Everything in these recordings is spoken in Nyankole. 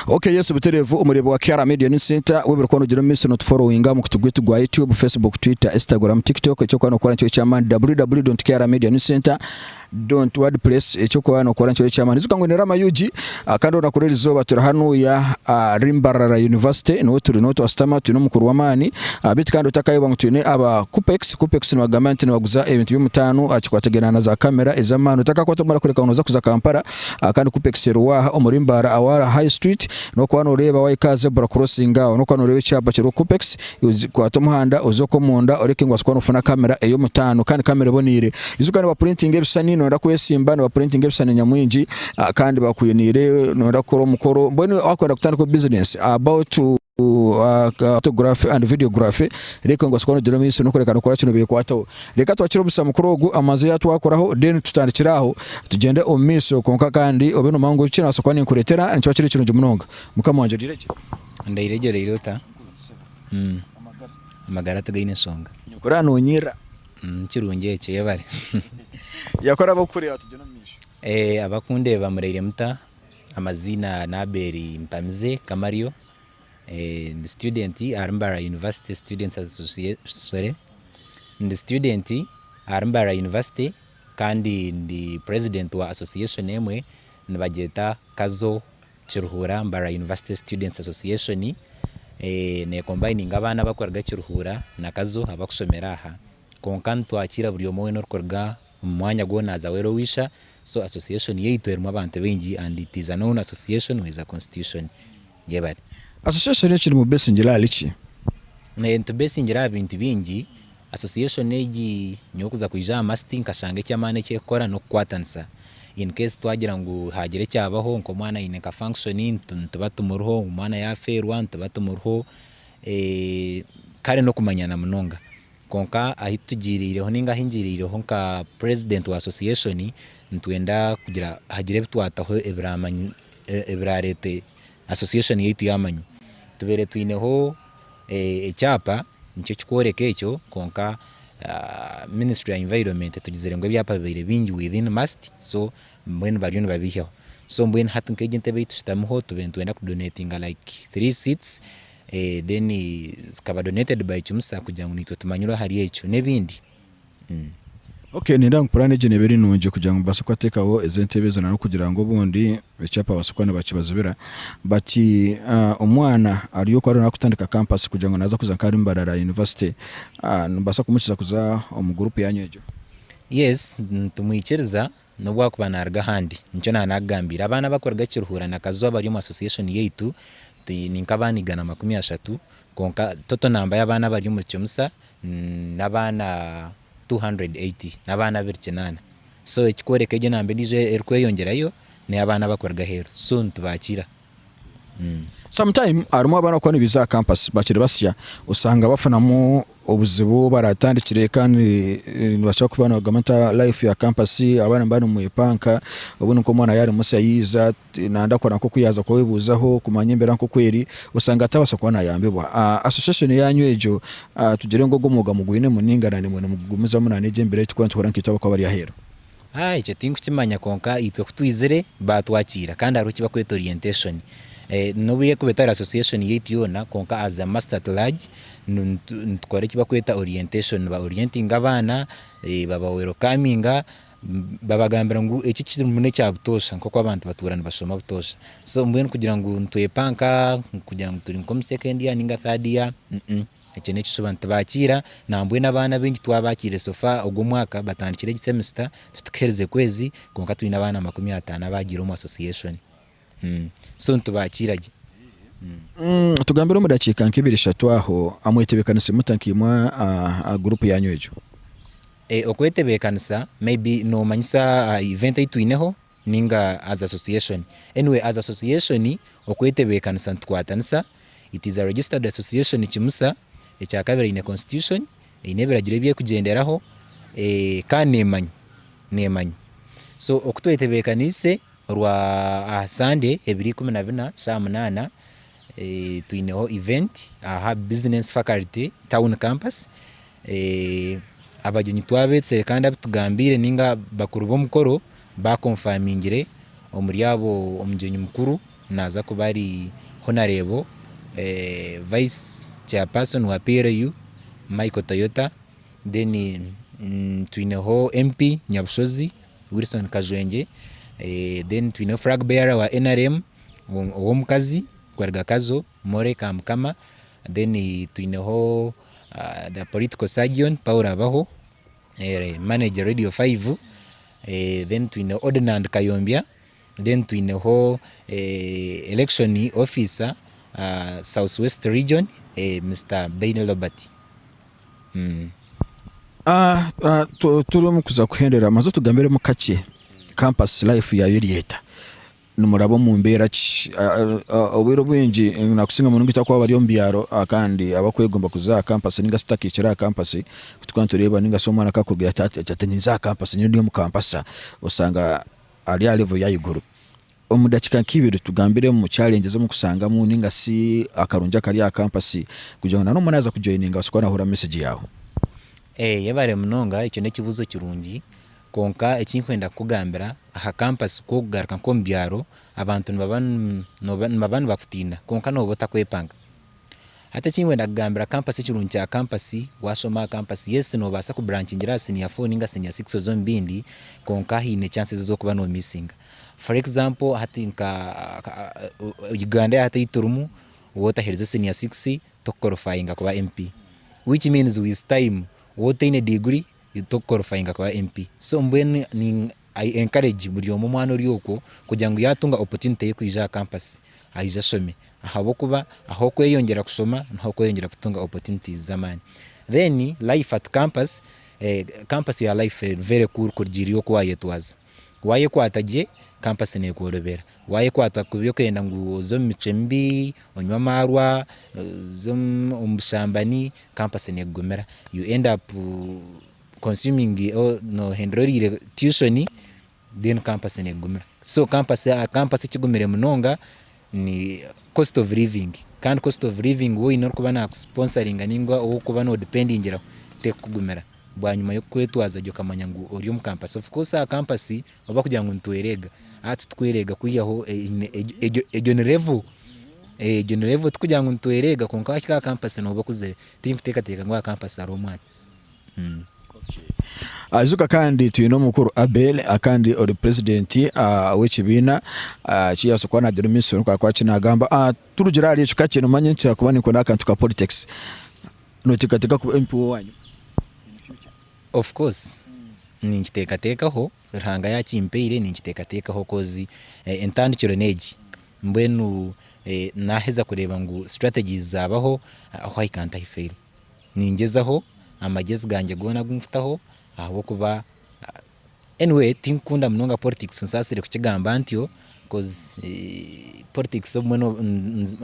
Ok Yesu Buterevu omureebi wa Kiara Media News Centre, webare kuba nogira omumaisho notuforowinga omukutu gwaitu gwa YouTube, Facebook, Twitter, Instagram, TikTok, ekyokuba nokora nikyo ekyamaani www.kiaramedianewscentre.wordpress ekyokuba nokora nikyo ekyamaani ijuka ngu ni Rama Ug kandi orunaku rw'erizooba turi hanuya ahari Mbarara University niho turi niho twashutama twine omukuru w'amaani beitu kandi otakayoba ngu twine aba Kupex, Kupex nibagamba nti nibaguza ebintu by'omutaano aha kikwatagaine na za camera ez'amaani otakakwata kumara kureka ngu noza kuza Kampala. Aha kandi kupex eri waaha omuri Mbaara Awara High Street nokuba noreeba wahika aha zebra crossing aho nokuba noreeba ekyapa kiriho kupex kwata omuhanda oze okwo omunda oreke ngu obaase kuba nofuna camera eyomutaano kandi camera eboneire ijuka nibapurintinga ebishushani noyenda kwesimba nibapurintinga ebishushani nyamwingi kandi bakwiniire noyenda kukora omukoro mbwenu wakwenda kutandikaho business about Photography and Videography Reka ngu basikore nogire omu maisho nokureka nokora kinu bekwataho Reka twakire omugisha mukuru ogu amanze yatwakoraho then tutandikire aho tugyende omu maisho kwonka kandi obe nomanya ngu eki nabaasa kuba ninkuretera nikiba kiri kirungi munonga Mukama wangye ogiregye Ndaire gye oraire ota Amagara tigaine nshonga Nyoko oraba nonyirira Nikirungi ekyo yebare Yako oraba okukureeba tugyende omu maisho Abakundeba muraire muta? amaziina ni Abel Mpamize Kamario, ndi student ahari Mbarara University Students Association, sorry, ndi student ahari Mbarara University kandi ndi president wa association emwe nibagyeta Kazo Kiruhura Mbarara University Students Association, ne combininga abaana abarikuruga Kiruhura na Kazo abarikushomera aha, kwonka nitwakira buri omwe weena orikuruga omu mwanya gwo naza wera owisha so association yaitu erimu abantu baingi and it is a known association with a constitution yebare. Association egi nimubesingire ahari ki? Nitubesingire aha bintu bingi, association egi nyowe kuza kwija aha masiti nkashanga ekyamaani ekyekukora nokukwatanisa in case twagira ngu hagira ekyabaho nka omwana ayine nka function nituba tumuriho, omwana yafeerwa nituba tumuriho kare nokumanyana munonga. Kwonka ahi tugiiriireho nainga ahi ngiiriireho nka purezidenti wa asosiyeshoni, nitwenda kugira hagire ebi twataho ebiraareete asosiyeshoni yaitu yaamanywa. Tubaire twineho ekyapa nikyo kirikworeka ekyo kwonka minisitule ya environment etugizire ngu ebyapa bibaire bingi within must so mbwenu bariyo nibabihyaho. So mbwenu hati nk'egi entebe ei tushutamiho twiine kwenda kudoneetinga like three seats. Then zikaba donated by Kimusa kugira ngu naitwe tumanyirwe ahari ekyo n'ebindi. Okay nindeeba ngu puraani egyo neeba eri nungi kugira ngu babaase kubateekaho ezo entebe ezo n'ahabw'okugira ngu obundi ekyapa babaasa kuba nibakibazibira but omwana ari oku ari naakutandika kampasi kugira ngu naaza kuza nka ari Mbarara University nimubaasa kumuhikiza kuza omu guruupu yaanyu egyo? Yes nitumwikiriza N'obu akuba naaruga ahandi. Nikyo naaba naakugambiire. Abaana abakuruga Kiruhura na Kazo abari omu association yaitu, twine nk'abaana igana makumi ashatu, kwonka total namba y'abaana abari omuri Kyomusa n'abaana two hundred eighty, n'abaana abiri kinaana. So ekikworeka egyo namba endiijo erikweyongyerayo, n'ey'abaana abakuruga aheeru. So nitubaakira. Sometime harimu abaana abarikuba nibaija aha campus bakiri basya osanga bafunamu obuzibu obu baratandikire kandi nibakira kuba nibagamba nti ah life ya campus abaana niba nimwepanka obundi nk'omwana yaaba ari musya yaija nayenda kukora nk'oku yaaza kwebuuzaho kumanya embeera nk'oku eri osanga atabaasa kuba nayambibwa. Association yaanyu egyo tugire ngu ogwo mwooga mugwinemu nainga na nimwe nimugumizamu na n'egi embeera ei turikuba nituhurira nkaitwe abarikuba bari aheeru? Ha, ekyo tinkukimanya, kwonka itwe ku twizire baatwakiira, kandi hariho eki bakweta orientation. Eh, n'obu erikuba etari association yaitu yoona, kwonka as a must at large, nu- nitu- nitukora eki bakweta orientation. Niba orientinga abaana, eh, baba welcominga, mm babagambira ngu eki kiri muno ekya butoosha, nk'oku abantu batuura nibashoma butoosha. So mbwenu kugira ngu nitwepanka, kugira ngu turi nk'omu second year ninga third year, mm. Ekyo n'ekishuba nitubaakiira, nambwenu abaana abaingi twabaakiire so far ogu omwaka batandikire egi semester titukiherize kwezi kwonka twine abaana makumi ataano abaagiire omu association so nitubaakiira gye. Tugambire omu dakiika nka ibiri ishatu aho, mwetebekanise muta nkaimwe aha group yaanyu egyo? Okwetebeekanisa, maybe noomanyisa aha event ei twineho? ninga as association anyway as association okwetebekanisa nitukwatanisa it is a registered association kimusa ekyakabiri eine constitution eine ebiragiro ebyekugyenderaho kandi nemanya nemanya so okutwetebekaniise orwa aha Sunday ebiro ikumi na bina saaha munana twineho event aha business faculty town campus Abagyenyi twabetsire kandi abitugambiire ninga bakuru b'omukoro bakonfamingire omuri abo omugyenyi mukuru naza kuba ari Honarebo vice chairperson wa PLU Michael Toyota then twineho MP Nyabushozi Wilson Kajwengye then twineho flag bearer wa nrm ow'omukazi Rwarugakazo More ka mukama then twineho the political surgeon Paul Abaho, manager radio five, then twine Ordinand Kayombya, then twineho election officer south west region Mister Baine Robert. Turi omu kuza kuhendera manza otugambiremu kakye campus life yaayo eri eta? Nimuraba omu mbeera ki? Obwire obwingi, nakusinga munonga itwe abakuba bari omu byaro kandi abakwegomba kuza aha kampasi ninga shi tutakahikire aha kampasi, ku tukuba nitureeba ninga shi omwana akaba akuruga yataata yaagira ati ninza aha kampasi nyowe ndi omu kampasa, oshanga ari aha level y'ahaiguru. Omu dakiika nk'ibiri tugambiremu challenges ezi orikusangamu ninga shi akarungi akari aha kampasi kugira ngu na n'omwe naaza kujoininga abaase kuba naahurira message yaawe. Yebare munonga, ekyo n'ekibuuzo kirungi. Kwonka eki nkwenda kukugambira, aha kampasi ku okugaruka nk'omu byaro, abantu nibaba nibaba nibaba nibakutiina kwonka nooba otakwepanga. Hati eki nkwenda kugambira, kampasi ekirungi kya kampasi, waashoma aha kampasi, yes noobaasa kuburanchingira aha siniya four nainga siniya six oze omu bindi kwonka haine chances ez'okuba noomisinga. For example hati nka Uganda ya hati ei turimu, wootaherize siniya six, tokukorofayinga kuba MP. Which means with time, waaba otaine degree, you to qualifying kuba MP so mbwenu ni I encourage buri omwe omwana ori okwo kugira ngu yatunga opportunity y'okwija aha campus ayije ashome ahabw'okuba ahu okweyongyera kushoma niho okweyongyera kutunga opportunities z'amaani then life at campus campus ya life very cool kurugiirire oku wayetwaza. Waayekwata gye, kampasi neekworobera. Waayekwata kubi okenda ngu oze omu micwe mibi, onywe amaarwa, oze omu bushambani, kampasi neekugumira. You end up consuming noohindura oriire tuition then kampasi neekugumira. So kampasi, kampasi ekigumire munonga. ni cost of living kandi cost of living we oyine orikuba naku sponsoringa ningwa owu orikuba no dependingiraho tekukugumira bwanyima yokukwetwaza gye okamanya ngu ori omu campus of course aha campus ahu bakugira ngu nitwereega a titukwereega kwihaho egyo egyo ni level egyo ni level tikugira ngu nitwereega kwonka wahika aha campus noba okuzire tinkutekateeka ngu aha campus hariho omwana. Ajuka kandi twine omukuru Abel kandi ori president wekibiina kiyabaasa kuba nagira omu eisomero kwonka akaba kinagamba turugire ahari ekyo kakye nomanya nti kyakuba nikunda akantu ka politics noteekateeka kuba MP wowanyima in future? Of course ninkiteekateekaho Ruhanga yakimpaire ninkiteekateekaho coz entandikiro neegi mbwenu naheza kureeba ngu strategies zabaho ahu I can't I fail. Ningyezaho amagyezi gangye goona agu nkutaho ahabw'okuba anyway tinkukunda munonga politics onsaasire kukigamba ntyo coz politics obumwe no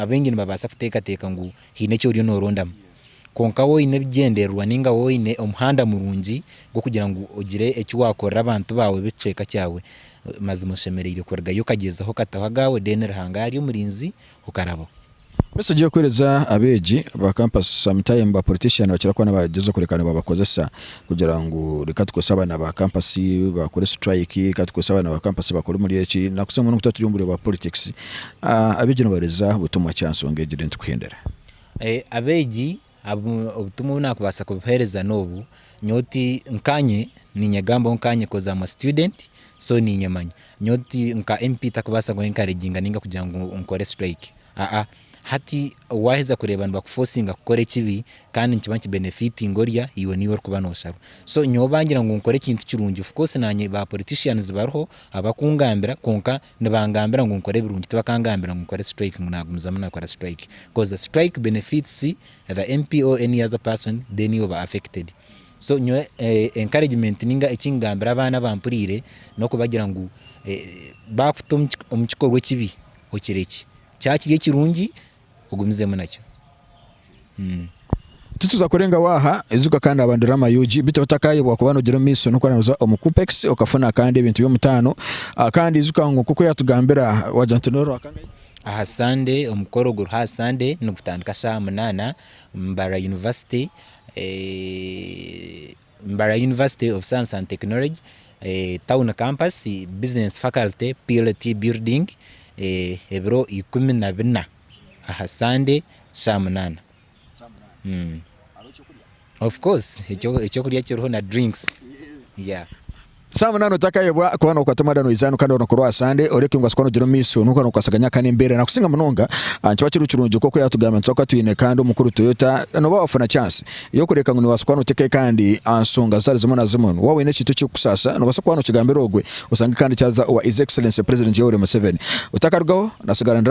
abaingi nibabaasa kuteekateeka ngu haine eki oriyo norondamu kwonka waaba oine ebigyendererwa nainga waaba oine omuhanda murungi gw'okugira ngu ogire eki waakorera abantu baawe b'ekicweka kyaawe mazima oshemereire kurugayo okagyezaho okataho agaawe then Ruhanga yaaba ari omurinzi okarabaho. Besigye okuheereza abeegi ba kampasi sometimes ba politician nibakira kuba nibagyezaho kureka nibabakozesa kugira ngu reka tukorese abaana ba kampasi bakore strike reka tukorese abaana ba kampasi bakore omuri eki nakutsya mbwenu kutaturi omuri obwa politics abeegi nibaheereza butumwa ki aha nshonga egi then tukuhendera? Abeegi Obutumwa obu nakubaasa kubuheereza n'obu, nyowe oti nkanye ninyegambaho nkanye coz am a student so ninyemanya. Nyowe oti nka MP takubaasa ku encouraginga ninga kugira ngu nkore strike aa, hati waaheza kureeba nibaku forcinga kukora ekibi kandi nikiba niki benefitinga orya, iwe niiwe orikuba nosharwa. So nyowe bangira ngu nkore ekintu kirungi of course naanye ba politicians bariho abakungambira kwonka. nibangambira ngu nkore ebirungi tibakangambira ngu nkore strike ngu nagumizamu nakora strike coz the strike benefits the MP or any other person then iwe oba affected so nyowe encouragement ninga ekingambira abaana abampuriire nokubagira ngu bakuta omukikorwa ekibi okirekye kyaba kiri ekirungi ogumizemu nakyo mm. Tituza kurengaho aha, ijuka kandi aba drama ug biteho otakayebwa kuba nogira omu maiso nokora noza omu kupex okafuna kandi ebintu byomutano ah, kandi ijuka ngu nkoku yatugambira wagira nti norwa kangahe? Aha Sunday omukoro oguriho aha Sunday nigutandika shaha munana mbara university eh, Mbarara University of Science and Technology, Town Campus, Business Faculty, PLT Building, ebiro ikumi na bina aha Sunday shaa munana. Of course ekyokurya kiriho na drinks. Saa munaana otakayebwa kuba nokwata omwana noizaanu kandi orunaku rwa Sande orekyo ngu asukwa nogira omumaiso nokuba nokwasaganya kandi embera nakusinga munonga nikiba kiri kirungi nkoku yatugambye nituba kuba twine kandi omukuru Toyota noba wafuna chance yokureka ngu niwasa kuba notekayo kandi ansonga zitari zimwe na zimwe waba oyine ekintu ekirikukusaasa nobasa kuba nokigambira ogwe osange kandi kyaza owa His Excellency President Yoweri Museveni otakarugaho nasigara ndi